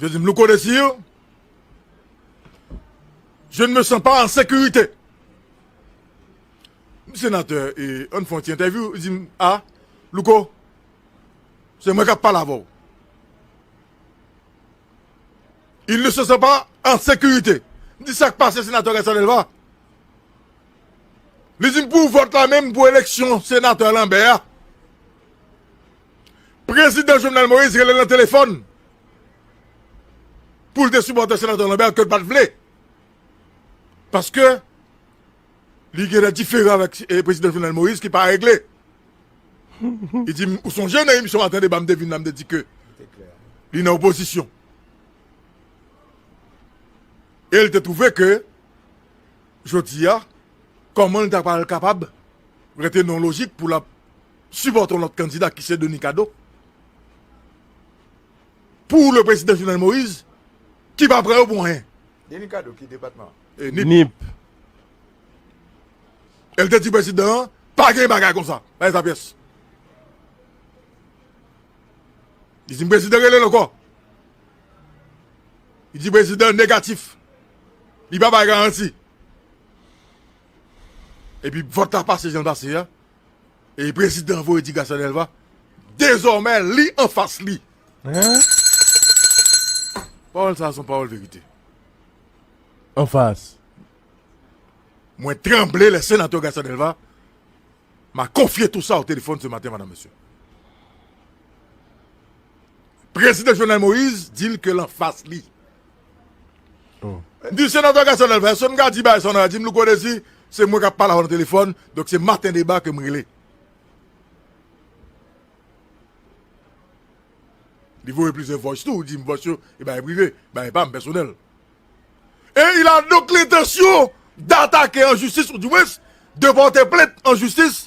Je di m Louko Desir, je ne me sens pas en sécurité. M senatè e an fon ti entèvyou, li di m a Louko, se mwen k ap pale avè w. Il ne se sent pas en sécurité. M di sa k pase senatè Gaëtan Delva? Li di m pou vòt la menm pou eleksyon senatè Lambert a. Prezidan Jovenel Moïse rele l nan telefòn pou l te sipòte Senatè Lambert ke l pa t vle paske li gen de diferan avèk Prezidan Jovenel Moïse ki pa regle. Li di m ou sonje nan emisyon Maten Deba m te vin la m te di ke li nan opozisyon e l te twouve ke jodi a kòman l ta pral kapab rete nan lojik pou l ap Sipòte yon lòt kandida ki se Denis Cadeau pou le prezidan Jovenel Moïse ki pa pran yo pou anyen. Denis Cadeau ki depatman? Nip. E l te di prezidan an pa gen bagay konsa, pa gen sa pyès. Li di m prezidan rele l ankò. Li di prezidan negatif. Li pa bay garanti. Epi vòt la pase jan l pase a. E prezidan voye ti Garcia Delva dezòmè li anfas li. Pawòl sa a son pawòl verite. Anfas. Mwen tranble lè senatè Garcia Delva m'a konfye tou sa o telefòn se maten madam mesye. Prezidan Jovenel Moïse di l ke l anfas li. Di Senatè Gaston Lèl fè son m ka di bagay sa w nan radi m louko dezi se mwen k ap pale avè w nan telefòn donk se maten deba ke m rele li voye plizyè voice tou di m voice yo e bagay prive bagay pa m pèsonèl e il a donk lentansyon datake an jistis ou di mwens de pòte plent an jistis.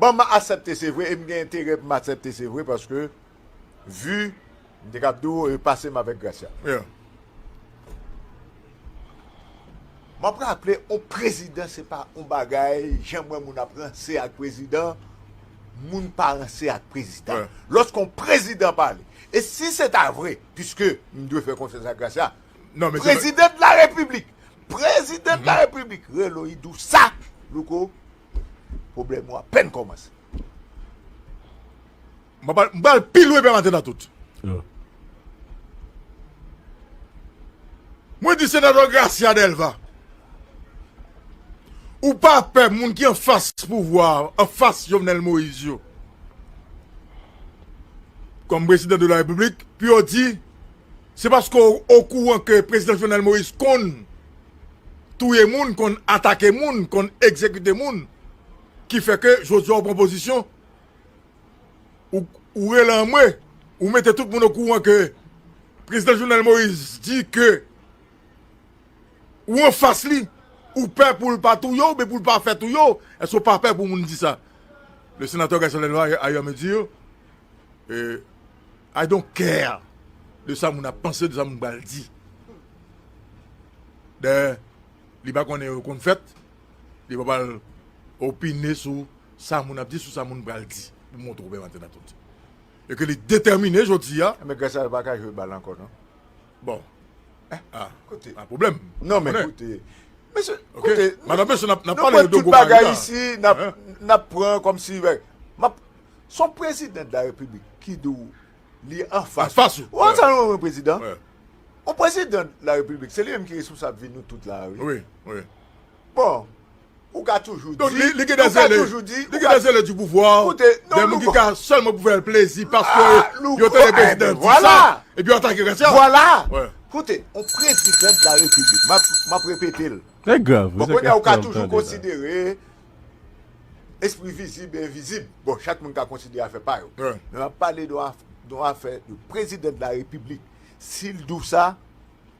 Bon m asèpte se vre e m gen enterè pou m asèpte se vre paske vi m te kab di w e pase m avèk Gracia. M ap raple yon prezidan se pa yon bagay jan m wè moun ap ranse ak prezidan moun pa ranse ak prezidan lòske yon prezidan pale e si se ta vre piske m dwe fè konfyans ak Gracia President la repiblik president la repiblik relo yi dou sa louko problem ou apen komanse. M ba l pi lwen pèmaten nan tout. Mwen di senatè Gracia Delva ou pa pè moun ki anfas pouvwa anfas Jovenel Moïse yo kòm prezidan de la repiblik pou yo di Se paske w okouran ke Prezidan Jovenel Moïse konn touye moun, konn atake moun, konn egzekite moun ki fè ke jodi a w pran pozisyon, ou rele anmwe, ou mete tout moun okouran ke Prezidan Jovenel Moïse di ke ou anfas li, ou pè pou l pa touye w oubyen pou l pa fè touye w, èske w pa pè pou moun di sa? Le Senateur Garcelle Delva a ayè me dire. I don't care de sa moun ap panse, de sa moun pral di. Dayè, li pa konnen yo konn fèt, li pa pral opine sou sa moun ap di, sou sa moun pral di pou montre ou menm Antenatoni. E ke li detèmine jodi a. Enben Gracia pa ka jwe bal ankò non. Bon. Eh, ah, kote. A problem. Non men kote. Mesye, kote. Madan mesye nap nap pale de gwo bagay ici, nap nap pran kom si map son president de la republique ki di ou li an fas. Fas ou. Ou an sa nou yon president? On president de la republique, se li menm ki responsable vi nou tout la a wi. Oui, oui. Bon, ou ka toujou di, Donk li gen dè zèle, li gen dè zèle di pouvwa, dè moun ki ka sèlman pou fè l plezi paske yo tande prezidan di sa, epi yo atake kras ya. Vwala! Koute, yon prezidan de la repiblik, m ap repete l. Se grav wi, se grav pou an tande la. Bon, kounye a ou ka toujou konsidere espri vizib e envizib. Bon, chak moun ka konsidere afè pa yo. Men m ap pale de yon afè de prezidan de la repiblik. Si l di w sa.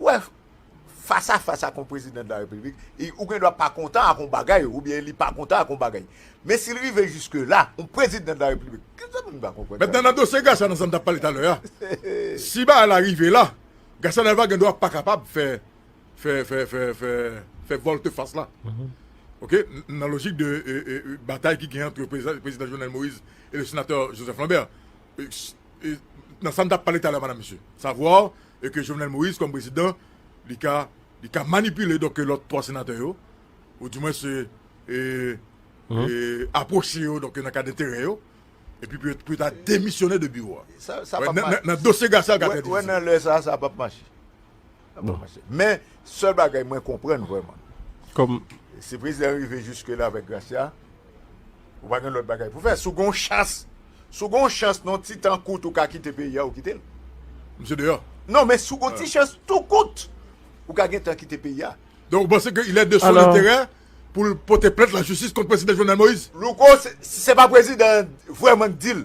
Ou wè, fas a fas ak yon prezidan de la repiblik, ou gen dwa pa kontan ak yon bagay, ou byen li pa kontan ak yon bagay. Men si li rive jiske la, yon prezidan de la repiblik, ki zan moun pa konprann sa? Mentnan nan dosye Garca nan sa n t ap pale talè a, si bagay la rive la, Garca Delva gen dwa pa kapab fè, fè, fè, fè, fè, fè volte fas la. Ok, nan lojik de batay ki gen antre prezidan Jovenel Moïse e le senatè Joseph Lambert. nan sa m tap pale talè madam mesye savoir e ke Jovenel Moïse kòm prezidan li ka li ka manipile donk ke lòt 3 senatè yo ou di mwen se e aproche yo donk ke nan kad enterè yo e pi pou yo ta demisyone de biwo a nan dosye Garcia li ka trè difisil. Wè nan lè sa sa pap mache. Men sèl bagay mwen konprann vrèman si prezidan rive jiske la avèk Gracia ou pa gen lòt bagay pou fè si w gen yon chans si w gen yon chans nan yon ti tan kout ou ka kite peyi a ou kite l non men si w gen yon ti chans tou kout ou ka gen tan kite peyi a donk ou panse ke ilè de son enterè pou l pote plent lajistis kont prezidan Jovenel Moïse Louko se pa prezidan an vrèman k di l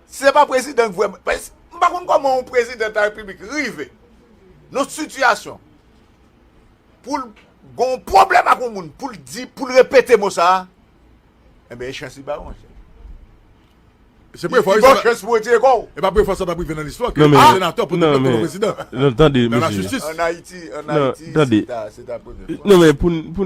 Si se pa prezidan k vrèman, paske m pa konn kòman yon prezidan ta repiblik rive nan yon sitiyasyon pou l gen yon pwoblèm ak yon moun pou l di, pou l repete mo sa a, enben e chans li ba ou monchè. Se Li prevan li ba w chans pou retire kò ou. E pa prevan sa t ap rive nan listwa ke yon senatè pote plent kont yon prezidan nan lajistis. An Ayiti, an Ayiti se ta se ta premye fwa.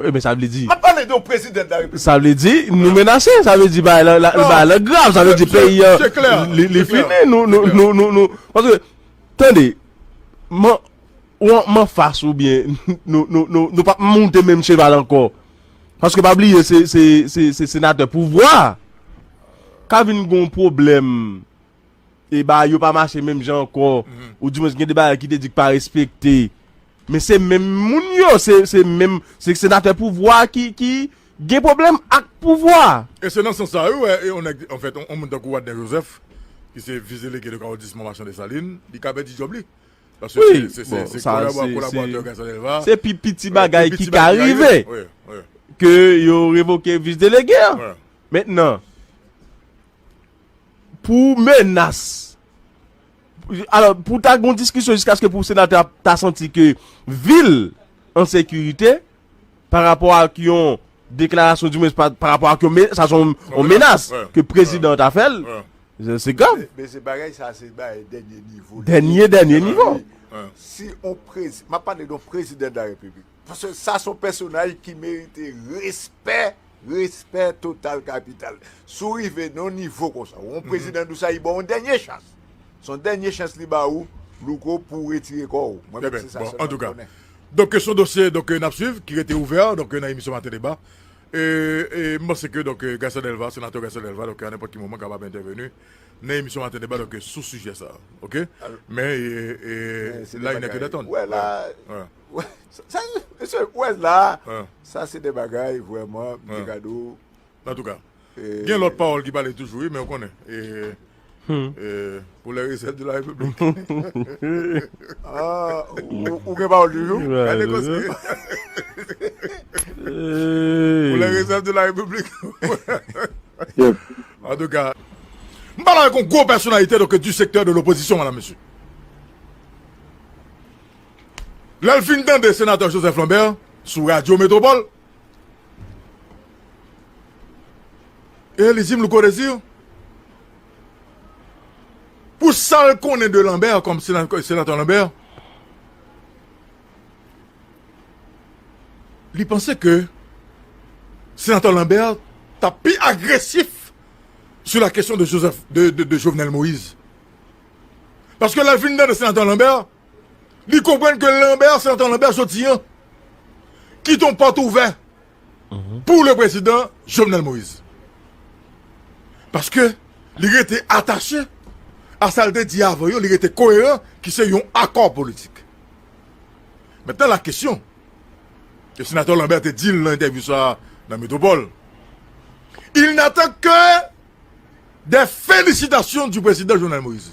Ebyen sa vle di. Map pale de yon president de la republique. Sa vle di nou menase, sa vle di bagay lan bagay lan grav, sa vle di peyi an li fini nou nou nou nou paske tande man wan man fas ou byen nou nou nou nou pap moute menm cheval ankò paske pa bliye se se se se senatè pouvwa ka vin gon pwoblèm. e bagay yo pa mache menm jan ankò, ou di mwen gen de bagay ki te di ki pa respekte. Men se menm moun yo, se menm, se senatè pouvwa ki gen pwoblèm ak pouvwa. E se nan sans sa ou wè yon nèg, an fèt, yon moun tankou Wadner Joseph, ki se vis delege de Kawodisman Machan Desalin, li ka pèdi djòb li. Paske se kolaboratè Gaston Delva. Se pi piti bagay ki ka rive. Ke yo revoke vis delege an. Mentnan. pou menas, alò pou ta gen yon diskisyon jiskaske pou senatè a ta santi ke vi l an sekirite pa rapò ak yon deklarasyon di mwens pa rapò ak yon sa son yon menas ke prezidan an ta fè l, se grav. Men se bagay sa se bagay dènye nivo li ye. Dènye dènye nivo. Si yon prezi, m ap pale de yon prezidan de la repiblik. Paske sa son pèsonaj ki merite respè, respè total kapital. Si w rive nan yon nivo konsa, ou yon prezidan dou sa li ba w yon dènye chans. Se yon dènye chans li ba ou, Louko, pou w retire kò ou. Mwen menm se sa sèlman m konnen. Donk son dosye donk n ap swiv ki rete ouvè donk nan emisyon maten deba. E m panse ke donk Gaston Delva, senatè Gaston Delva donk a nenpòt ki moman kapab entèveni nan emisyon maten deba donk sou sijè sa a. Oke? Men e la il nè ke datann. Mesye, ou wè la, sa se de bagay vrèman, m te gade w. Antouka, gen lòt pawòl ki pale toujou wi, men ou konnen, pou lè resèt de la repiblik. Ou gen pawòl toujou? Gade kòs li. Pou lè resèt de la repiblik. Antouka. M pale avèk yon gwo pèsonalite donk du sektè de lopozisyon, mèdam mesye. Lè l fin tande Senatè Joseph Lambert sou Radyo Metropole, e li di m, Louko Desir, pou sa l konnen de Lambert kòm Senatè Lambert, li panse ke Senatè Lambert t ap pi agresif sou la kesyon de Jovenel Moïse. Paske lè l fin tande Senatè Lambert, Li konprann ke Lambert, se nan tan Lambert soti an, kite yon pòt ouvè pou le prezidan Jovenel Moïse. Paske li rete atache a sa li te di avan yo, li rete koeran ki se yon akò politik. Mètnen la kesyon, e senatè Lambert te di l nan entèvyou sa a nan Metropol, il n'attend que des felicitations du prezidan Jovenel Moïse.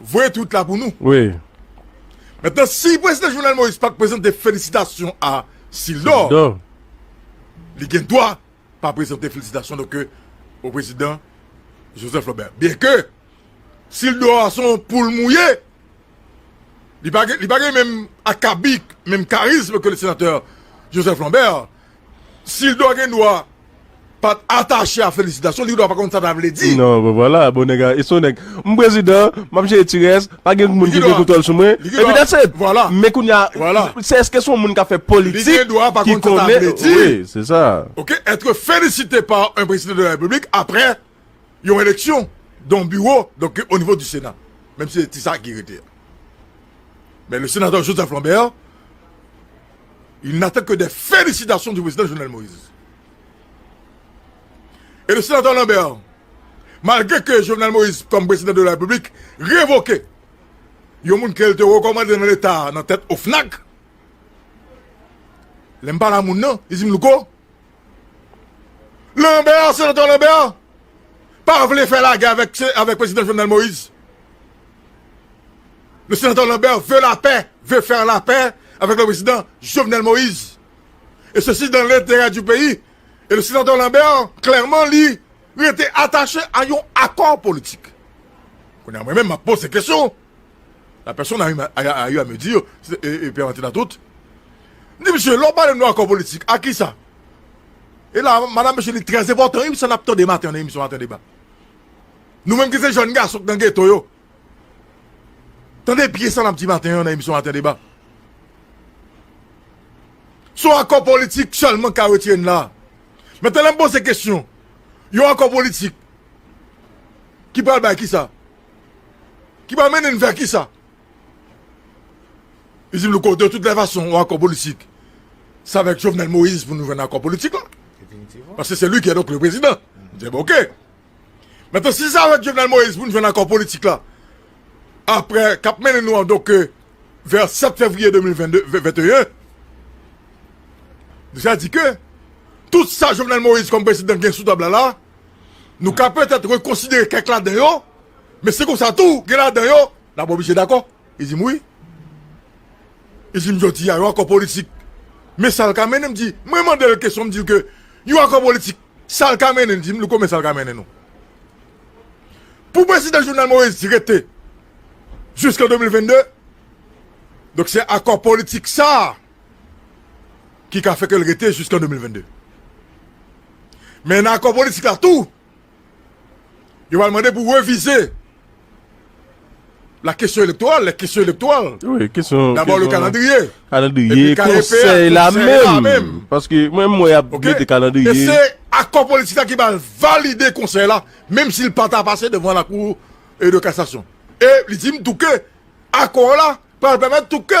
voye tweet la pou nou. Wi. Mentnan si Prezidan Jovenel Moïse pat prezante felisitasyon a Sildor. Sildor. Li gen dwa pa prezante felisitasyon nou ke o Prezidan Joseph Lambert. Byen ke Sildor a son poul mouye. Li pa gen menm akabik, menm karizm ke le Senatè Joseph Lambert. Sidor gen dwa pat atache a felisitasyon li gen dwa pa konn sa ta vle di. Non bon vwala bon nèg a e son nèg m prezidan map jere ti rès pa gen moun ki gen kontwòl sou mwen epi that's it men kounya se eske son moun kap fè politik li gen dwa pa konn sa ta vle di wi se sa ok etre felisite pa un prezidan de la repiblik aprè yon eleksyon don biwo donk o nivo di sena menm si se ti sa ki rete a men le senatè Joseph Lambert. Il n'attend que des félicitations du Prezidan Jovenel Moïse et le Sénateur Lambert malgre ke Jovenel Moïse kòm Prezidan de la République revoke yon moun ke l te rekòmande nan leta nan tèt OFNAC. Lè m pale a moun nan, li di m Louko, Lambert, Senatè Lambert, pa vle fè lagè avèk Prezidan Jovenel Moïse. Le Senatè Lambert veut la paix, veut faire la paix avec le Président Jovenel Moïse. Et ceci dans l'intérêt du pays. Et le Senatè Lambert, clairement, li rete attaché à yon accord politique. Kounè a mwen menm, m'a pose question. La personne a eu, a, a, a eu à me dire, se, e, e, Pierre Martin Atout, m di misye, lè w pale m de akò politik, a kisa? E la, madanm mesye li trè enpòtan wi pou sa n ap tande maten an nan emisyon Maten Deba. Nou menm ki se jèn gason ki nan geto yo, tande byen sa n ap di maten an nan emisyon Maten Deba. Se yon akò politik sèlman ki ka retire n la a. Metan lè m poze kesyon, yon akò politik ki pral bay kisa? ki pral mennen n vè kisa? Li di m louko de tout lè fason yon akò politik se avèk Jovenel Moïse pou nou jwenn akò politik la paske se li ki e donk le prezidan m di ok metan si se avèk Jovenel Moïse pou nou jwenn akò politik la aprè k ap mennen nou an donk ke vè 7 fevriye 2021 deja di ke tout sa Jovenel Moïse kòm prezidan gen sou tab la la Nou ka petèt rekonsidere kèk ladan yo, men se konsa tou gen ladan yo, dabò misye dakò, li di m wi, li di m jodi a yon akò politik, men sa l ka mennen, m di, mwen mande l kesyon, m di l ke yon akò politik, sa l ka mennen, li di m louko men sa l ka mennen nou. Pou prezidan Jovenel Moïse rete jiskan 2022, donk se akò politik sa a, ki ka fè ke l rete jiskan 2022. Men nan akò politik la tou, yo pral mande pou revize la kesyon elektoral, lè kesyon elektoral, dabò le kalandriye, epi kayepea, konsèy la menm. E se akò politik la ki pral valide konsèy la, menm si l pa ta pase devan lakou de kasasyon. E li di m tou ke akò la pral pèmèt tou ke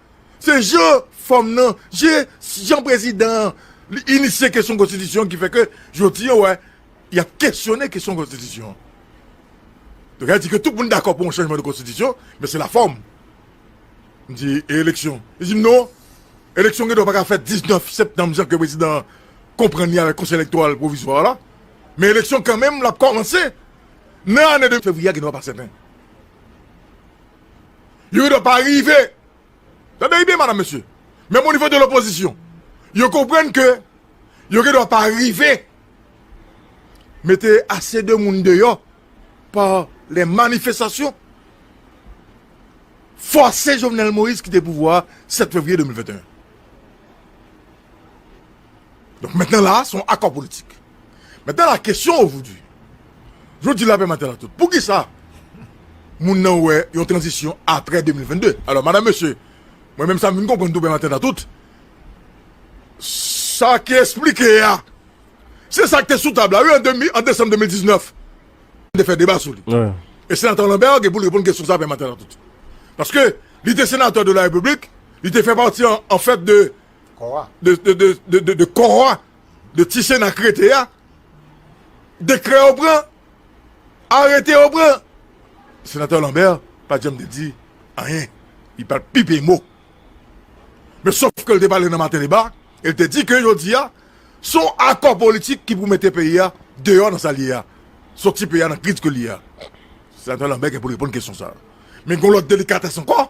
Se jan fòm nan, je jan prezidan an li inisye kesyon konstitisyon ki fè ke jodi an wè y ap kesyone kesyon konstitisyon. Yo ka di ke tout moun dakò pou yon chanjman de konstitisyon, men se lafòm. M di e eleksyon? Yo di m non, eleksyon gen dwa pa ka fèt 19 septanm jan ke prezidan an konprann li avèk konsèy elektoral pwovizwa la, men eleksyon kanmenm l ap kòmanse nan ane 2 fevriye a gen dwa pa sèten. Yo gendwa pa rive. Tande byen madam mesye. Menm o nivo de lopozisyon. Yo konprann ke yo gendwa pa rive mete ase de moun deyo pa le manifestasyon fose Jovenel Moïse kite pouvwa a 7 fevriye 2021. Donk mentnan la a son akò politik. Maintenant la question aujourd'hui, yo di lapè maten la tout, poukisa moun nan wè yon tranzisyon aprè 2022? Alò madan mesye, mwen menm sa m vin konprann tou pè maten la tout, sa ki esplike a, se sa k te sou tab la wi an desanm 2019, m te fè deba sou li, e senatè Lambert gen pou l reponn kesyon sa pè maten la tout, paske li te senatè de la repiblik, li te fè pati an fèt de kò a. de ti sena k rete a dekrè yo pran arete yo pran senatè Lambert pat janm te di anyen li pat pipe mo men sof ke li te pale nan maten deba e li te di ke jodi a son akò politik ki pou mete peyi a deyò nan sa l ye a soti peyi a nan kriz ke l ye a senatè Lambert gen pou l reponn kesyon sa men gon lòt delikatès ankò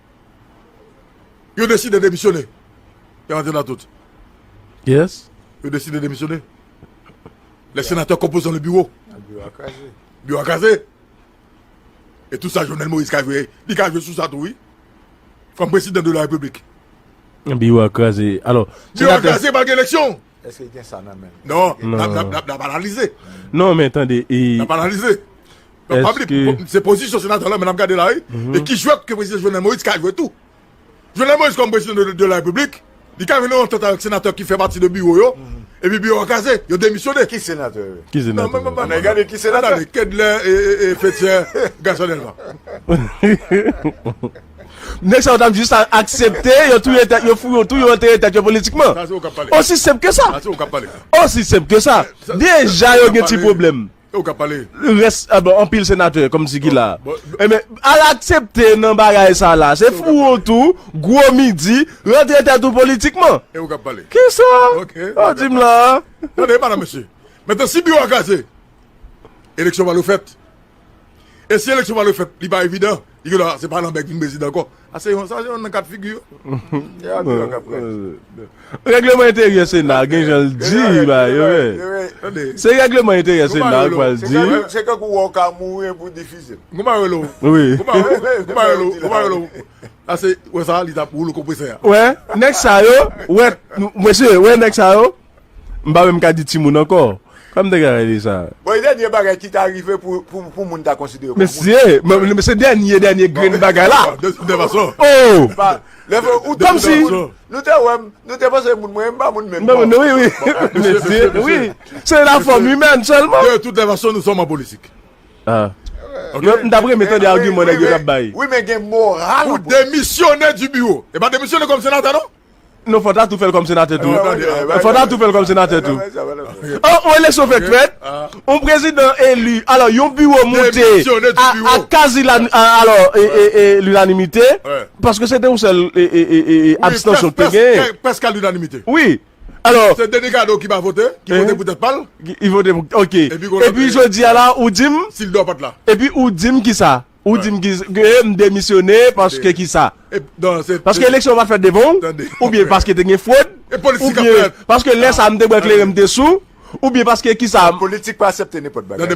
Yo deside demisyone. Yo antre nan tout. Yes. Yo deside demisyone. Le senatè konpozan le biwo. Biwo a kraze. Biwo a kraze. E tout sa Jovenel Moïse ka jwe. Li ka jwe sou sa tou wi. Kom prezidan de la republik. Biwo a kraze. Biwo a kraze pa gen eleksyon. Eske li gen sa nan menl. Non lap analize. Non men tande e. Lap analize. Eske. Se pozisyon senatè la men lap gade la wi. E ki jwèt ke prezidan Jovenel Moïse ka jwe tou. Jovenel Moïse kòm prezidan de la repiblik. Li ka vin nan yon antant avèk senatè ki fè pati de biwo yo. Epi biwo a kraze. Yo demisyone. Ki senatè yo. Ki senatè yo. Ann gade ki senatè. Ann gade Kedlaire e Fethière Gassonel la. Nèg sa yo ta jis aksepte yo touye tèt yo, fouye yo tou yo antere tèt yo politikman. Osi senp ke sa. Osi senp ke sa. Deja yo gen ti pwoblèm. Rès anpil senatè kòm si ki la. Enben, al aksepte nan bagay sa la. Se fouye yo tou, gwo midi, rantre tèt ou politikman. Kisa? Ou di m la a? Tande, madan mesye. Mentnan si biwo a kraze, eleksyon pa dwe fèt. E si eleksyon pa dwe fèt, li pa evidan, li gen dwa se pa Lambert ki vin prezidan ankò. Sa se youn nan kat figi yo. E abi yo k ap pran. Règleman enteryè Sena a gen jan l di bagay yo menm. Se règleman enteryè Sena a k pral di. Se tankou wè w ka mouri epi w difize. Kouman yo rele w? Wi. Kouman yo rele w? Ase wè sa li t ap woulo konpresè a. Wè nèg sa yo, wè mesye, wè nèg sa yo. M pa menm ka di timoun ankò. Kòman m te ka rele sa? Bon e dènye bagay ki ta rive pou moun ta konsidere kòm moun. Mesye! Se dènye dènye grenn bagay la. De tout fason. Oh! De tout fason. Nou te wè m, nou te panse moun mwen e m pa moun menm. Bon, wi, wi. Mesye, wi. Se la fòm imèn sèlman. De tout fason nou sòm an politik. Ah. Ok. M ta renmen tande agiman nèg yo ta bay. Wi men gen moral. Pou demisyone di biwo. E pa demisyone kòm senatè non. Non fòta tou fèl kòm senatè tou. Fòta tou fèl kòm senatè tou. Oh yon eleksyon fèk fèt, yon prezidan eli, alò yon biwo moute a kazi alò linanimite, paske se te yon sèl abstansyon te genyen. Wi, prèske a linanimite. Wi, alò. Se Denis Cadeau ki pa vote, ki vote pou tèt pa l. Ki vote pou, ok. Epi jodi a la ou di m. Sil dò pat la. Epi ou di m kisa? Ou di m ki ke m demisyone paske ki sa? Paske eleksyon yo pa t fèt devan ou? Oubyen paske te gen fwod? Oubyen paske lè sa a m te bwè kleren m te sou? Oubyen paske ki sa? Politik pa asepte nenpòt bagay.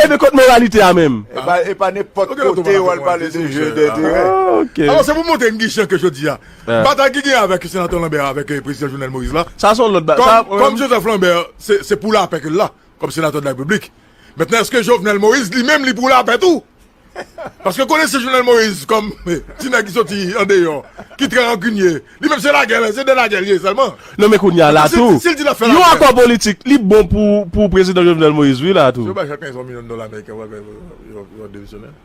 Ebyen kot moralite a menm? E pa nenpòt kote yo al pale de jeu d'intérêt. Ok. Alò se pou montre m ki jan ke jodi a, batay ki genyen avèk Senatè Lambert avèk Prezidan Jovenel Moïse la, Sa son lòt bagay. Sa menm. Kòm Joseph Lambert se pou lapè ke l la, kòm Senatè de la République, Maintenant eske Jovenel Moïse li menm li pou lapè tou? Paske konesè Jovenel Moïse kòm ti nèg ki soti andeyò, ki trè rankinye, li menm se lagè, se de lagè li ye sèlman. Non men kounya la tou, yon akò politik li bon pou prezidan Jovenel Moïse wi la tou. Yo bay chak yon milyon dola ameriken pou yo demisyonnen.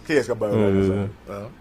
Kiyès kap ba yo lajan sa yo?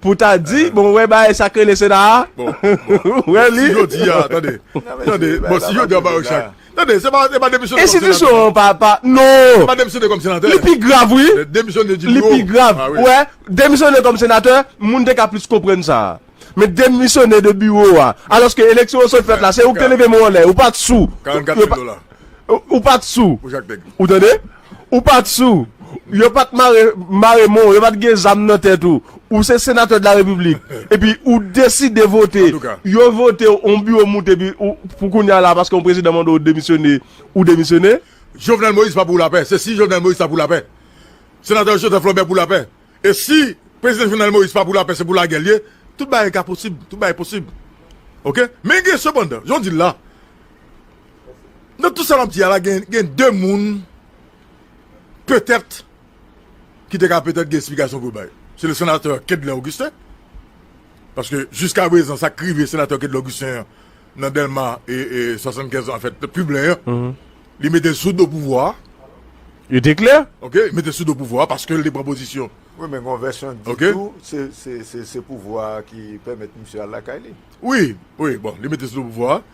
Pou ta di, bon wè bagay sa k rele sena a? Ou wè li? Enstitisyon an pa, pa, non! Li pi grav wi! Li pi grav, ou wè, demisyone kòm senatè, moun te ka plis konprann sa. Men demisyone de biwo a, alòske eleksyon yo sot fèt la, se ou k te leve men w anlè, ou pa t sou, ou pa t sou, ou tande? Ou pat sou. Yo pat mare mare men w, yo pat gen zam nan tèt ou. Ou se senatè de la repiblik. Epi ou deside vote. Yo vote w, yon biwo moute epi ou pou kounye a la paske yon prezidan mande w demisyone, ou demisyone. Jovenel Moïse pa pou lapè. Se si Jovenel Moïse ta pou lapè. Senatè Joseph Lambert pou lapè. E si prezidan Jovenel Moïse pa pou lapè se pou lagè l ye. Tout bagay ka posib. Tout bagay posib. Ok. Men gen sepandan, jan w di l la. Nan tout sa map di a la gen gen 2 moun petèt ki te ka petèt gen esplikasyon pou yo bay. Se le senatè Kedlain Augustin, paske jiska prezan sa k rive senatè Kedlain Augustin an nan Dèlma e 75 an fèt pi ble an, li mete l sou do pouvwa a. Yo te klè? Ok, li mete l sou do pouvwa a paske l te pran pozisyon. Wi men gon vèsyon di tou se se se pouvwa a ki pèmèt misye al lakay li. Wi, wi, bon li mete l sou do pouvwa a.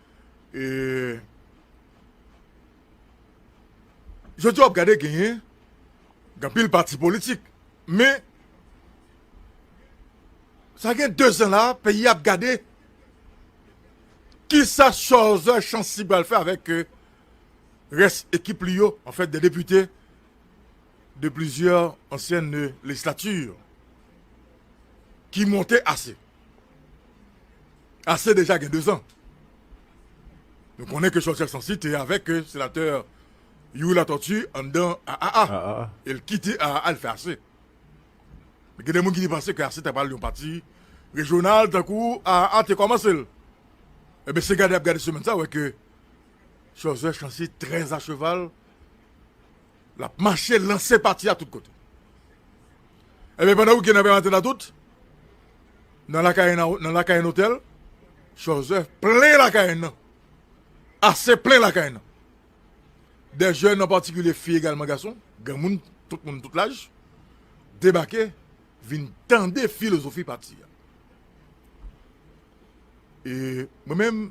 Jodi a w ap gade genyen anpil pati politik men sa gen 2 zan la peyi a ap gade kisa Cholzer Chancy pral fè avèk rès ekip li yo an fèt de depite de plizyè ansyen lejislati ki monte ase. Ase deja gen 2 zan. Nou konnen ke Chòlchè Sansi te avèk senatè Youri Latortue anndan AAA. E l kite AAA l fè ase. Men gen de moun ki te panse ke ase ta pral yon pati rejyonal tankou AAA te kòmanse l. Enben se gade y ap gade semèn sa wè ke Chòlchè Chansi trè acheval. Lap mache lanse pati a tout kote. Ebyen pandan weekend nan pral antre nan tout, nan lakay nan lakay nan otèl, chòzè plen lakay nan. Ase plen lakay nan. Dè jèn an patikilye fi egalman gason, granmoun, tout moun tout laj, debake vin tande filozofi pati a. E mwen menm,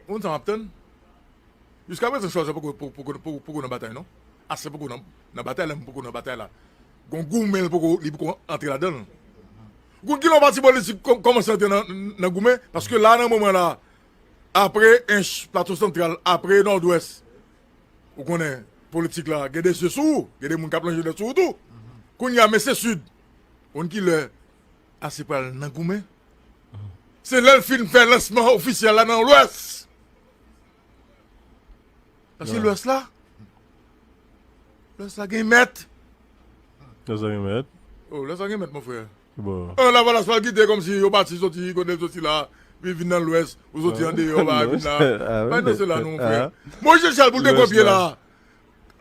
ou konn sa map tann? Jiska prezan Charles poko nan batay non Asè poko nan batay la menm poko nan batay la gon goumen li poko antre ladanl Gon kilè yon pati politik kòmanse antre nan goumen paske la nan moman la apre Ench Plato Santral apre Nòdwès ou konnen politik la gen de zye sou ou gen de moun kap lonje dèt sou ou tou kounya men se Sid konn kilè Asè pral nan goumen se lèl fin fè lansman ofisyèl la nan lwès. Paske lwès la, lwès la gen mèt. Lwès la gen mèt. Oh, lwès la gen mèt, mon frè. Bon. Oh, la valas pa gite kom si yo pati soti, kote soti la, pi vin nan lwès, ou soti an de yo, ba vin la. Bay nou se la nou, mon frè. Mwen jè chal pou te gwen pye la.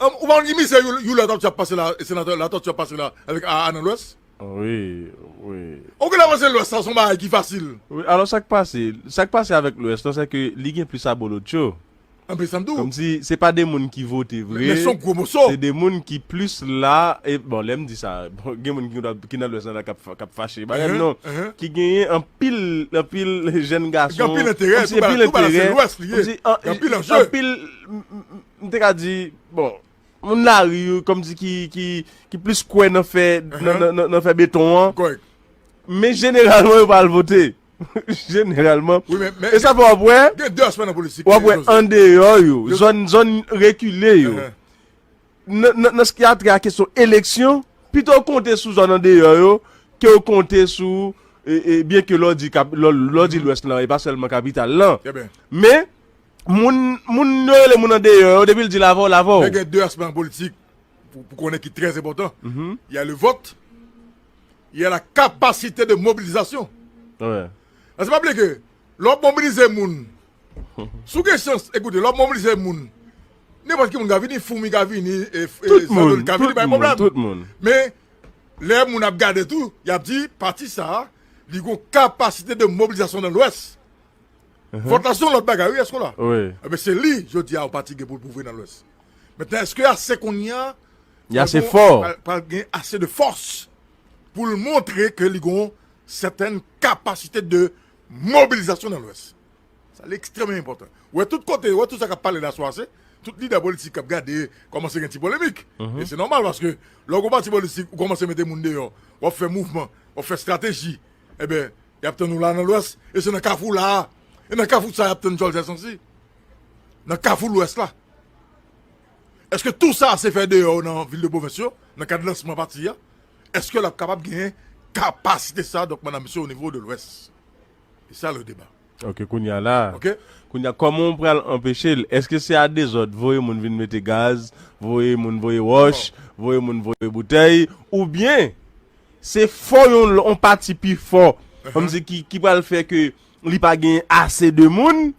Ou pa konn ki mizè you latortue ap pase la senatè latortue ap pase la avèk aa nan lwès. Wi wi. Ou genlè panse lwès la son bagay ki fasil. Wi alò sak pase sak pase avèk lwès lan sèke li gen plis abolotcho. Anpil sam diw. Kòmsi se pa de moun ki vote vre. Men son gwo moso. Se de moun ki plis la e bon lèm di sa bon gen moun ki nan lwès lan la kap fache bagay m non ki genyen anpil anpil jèn gason. Gen anpil enterè tout bagay la se lwès li ye. Gen anpil anjeu. M te ka di, bon, moun lari yo kòmsi ki plis kwè nan fè beton an. Kòrèk. Men jeneralman yo pa al vote. Jeneralman. Wi men. E sa fè w ap wè. Gen 2 aspè nan politik. W ap wè andeyò yo. Zòn rekile yo. Nan s ki a trè a kesyon eleksyon, pito yo konte sou zòn andeyò yo ke yo konte sou byenke lò di lòs di lwès lan e pa sèlman kapital lan. Trè byen. Men. Moun moun yo rele moun andeyò yo depi l di lavaw lavaw. Men gen 2 aspè nan politik pou pou konnen ki trè enpòtan. Y a le vote, y a la capacité de mobilisation. Paske pa bliye ke lè w ap mobilize moun, si w gen chans, ekoute, lè w ap mobilize moun, nenpòt ki moun ka vini, foumi ka vini, zandoli ka vini, pa gen pwoblèm. Men, lè moun ap gade tou, y ap di pati sa a li gon capacité de mobilisation dans l'ouest. Vòt la se yon lòt bagay wi Eskola. Ebyen se li jodi a pati gen pou l pwouve nan lwès. Mentnan èske l ase kounye a pral gen ase de fòs pou l montre ke li gen yon sètèn kapasite de mobilizasyon nan lwès. Sa li ekstrèmman enpòtan. Ou wè tout kote, ou wè tout sa k ap pale la swa se tout lidè politik k ap gade kòmanse gen ti polemik. E se nòmal paske lè w gen yon pati politik ou kòmanse mete moun deyò, w ap fè mouvman, w ap fè estrateji ebyen Y ap tann ou la nan Lwès e se nan kafou la a. E nan kafou sa y ap tann Dyòl Zè Sansi. Nan kafou Lwès la. Eske tou sa se fè deyò nan vil de pwovens yo, nan kad lansman pati a? Eske l ap kapab genyen kapasite sa a, donk mandan misyon onivo de Lwès? Se sa le deba. Ok, kounye a la. Ok. Kounye a, kòman ou pral anpeche l? Eske se a dezòd, voye moun vin mete gaz, voye moun voye wòch, voye moun voye boutèy, oubyen? Se fò yon on pati pi fò kòm si ki ki pral fè ke li pa gen ase de moun,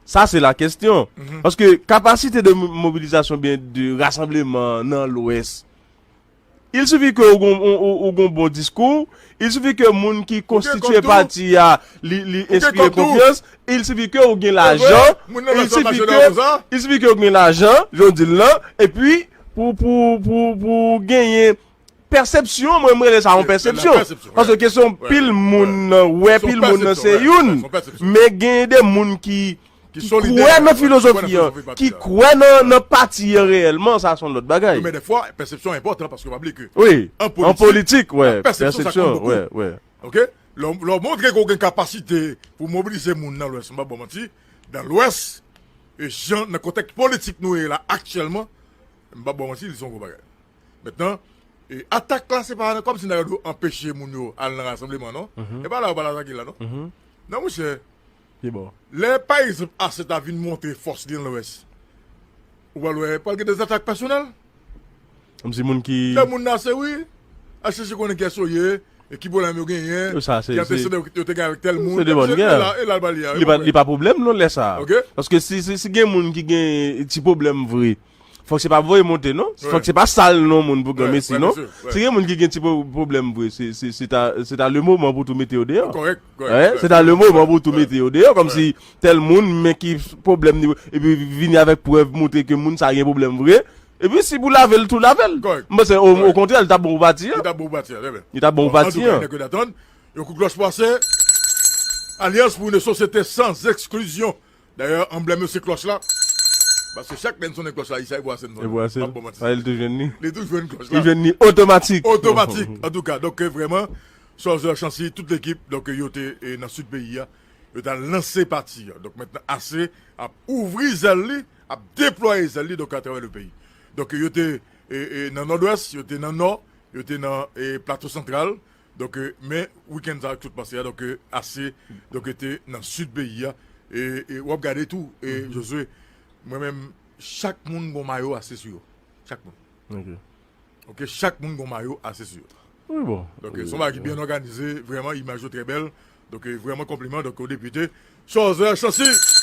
sa se la kestyon. Paske kapasite de mobilizasyon oubyen de rasanbleman nan lwès, il sifi ke ou gon ou gon bon diskou, il sifi ke moun ki konstitye pati a li li enspire konfyans, il sifi ke ou gen lajan, il sifi ke il sifi ke ou gen lajan, jan w di l lan, epi pou pou pou pou genyen Pèsepsyon, mwen m rele sa yon pèsepsyon. Paske kesyon pil moun wè, pil moun se youn. Men gen de moun ki kwè nan filozofi an, ki kwè nan pati an reyèlman, sa son lòt bagay. Men dèfwa, pèsepsyon enpòtan, paske pa bliye ke an politik, pèsepsyon sa konte bokou. Lè w montre ke w gen kapasite pou mobilize moun nan lwès, m pap ba w manti, nan lwès, jan nan kontèks politik nou ye la aktyèlman, m pap ba w manti, li son gwo bagay. Mentnan, atak la se pa kòmsi nèg yo dwe anpeche moun yo al nan rasanbleman non. E pa la yo pral atake la non. Non monchè, lè pa egzanp ase ta vin montre fòs li nan Lwès, ou pral wè pral gen dezatak pèsonèl. Kòmsi moun ki. Lè moun ase wi, al chèche konnen kiyès yo ye, ki pwoblèm yo genyen, ki antesede yo te gen avèk tèl moun. E la l pral ye a. Li pa pwoblèm non lè sa a. Paske si gen moun ki gen ti pwoblèm vre. Fòk se pa voye monte non, fòk se pa sal non moun pou granmesi non, si gen moun ki gen ti pwoblèm vre se ta le moman pou tou mete yo deyò, se ta le moman pou tou mete yo deyò kòmsi tèl moun men ki pwoblèm ni epi vini avèk prèv moutre ke moun sa gen pwoblèm vre epi si pou lavel tou lavel m panse okontrè li ta bon pou pati an li ta bon pou pati an. Yon kou klòch pase, alyans pou yon sosyete san eksklizyon. Dayè anblèm yo se klòch la. Paske chak lè n sonnen klòch la Isay Bwasen sonnen. M ap ba w manti sa. Li tou jwenn klòch la. Li jwenn li otomatik. Otomatik. Antouka donk vrèman Sòzè, Chansi, tout lekip donk yo te nan sid peyi a. Yo t al lanse pati a. Donk mentnan Ase ap ouvri zèl li, ap deplwaye zèl li donk atravè le peyi. Donk yo te nan Nòdwès, yo te nan Nò, yo te nan Plato Santral, Donk men weekend sa ak tout pase a donk ase donk te nan sud peyi a e wap gade tou Josue mwen menm chak moun gon mayo ase sou yo chak moun ok chak moun gon mayo ase sou yo wi bon donk son bagay ki byen òganize vrèman imaj yo trè bèl donk vrèman konpliman donk o depite Chooser Chancy.